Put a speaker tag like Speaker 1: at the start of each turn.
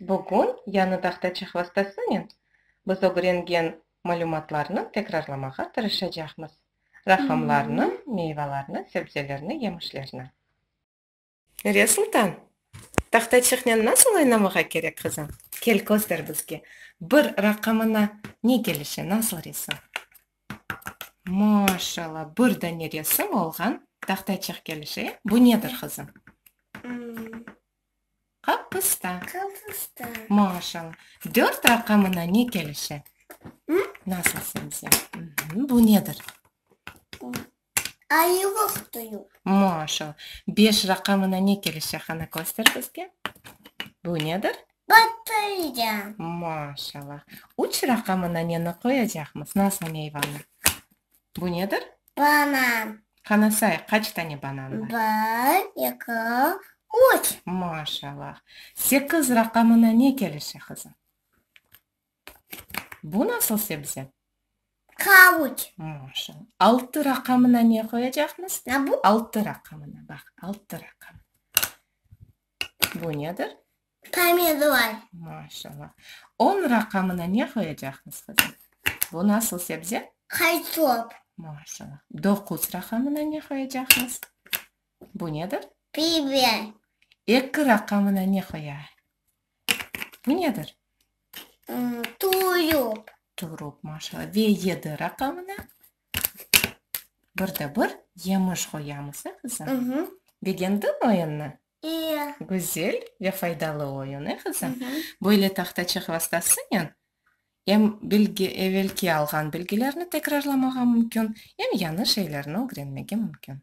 Speaker 1: Bugün Yanı dağda çehovostasınen biz ögrengen malümatlarnı tekrarlamağa tırışacaqmız, raqamlarnı, meyvalarnı, sebzelerni, yemişlerni. Nuriye Sultan, Tahta çehnen nasıl oynamağa kerek, qızım? Kel, köster bizge. Bir raqamına ne kelişe, nasıl resim? Maşalla, bir dane resim olğan tahta çeh kelişe. Bu nedir, qızım? Qapusta. Qapusta. Maşallah. Dört raqamına ne kelişe? Hı? Nasıl sence? Hı-hı. Bu nedir? Bu. Ayırıq duyuq. Maşallah. Beş raqamına ne kelişe? Qana köster bizge. Bu nedir? Batırıcan. Maşallah. Üç raqamına neni qoyacaqmız? Nasıl meyvanı? Bu nedir? Banan. Qanasay, qaç tane banan bar? Bir, eki, üç. Maşallah. Sekiz raqamına ne kelişe, qızım? Bu nasıl sebze? Qavuç. Maşallah. Altı raqamına ne qoyacaqmız? Na bu? Altı raqamına, baq, altı raqamına. Bu nedir? Pomidor. Maşallah. On raqamına ne qoyacaqsız, qızım? Bu nasıl sebze? Qaysop. Maşallah. Doquz raqamına ne qoyacaqsız? Bu nedir? Biber. Eki raqamına ne qoya? Bu nedir? Turup. Turup, maşallah. Ve yedi raqamına? Bir de bir yemiş qoyamız, e, qızım? Begendin oyunnı? İyi. Güzel ve faydalı oyun, e, qızım? Böyle tahtaçıq vastasınen em bilgi, evelki alğan bilgilerni tekrarlamağa mümkün, em yañı şeylerni ögrenmege mümkün.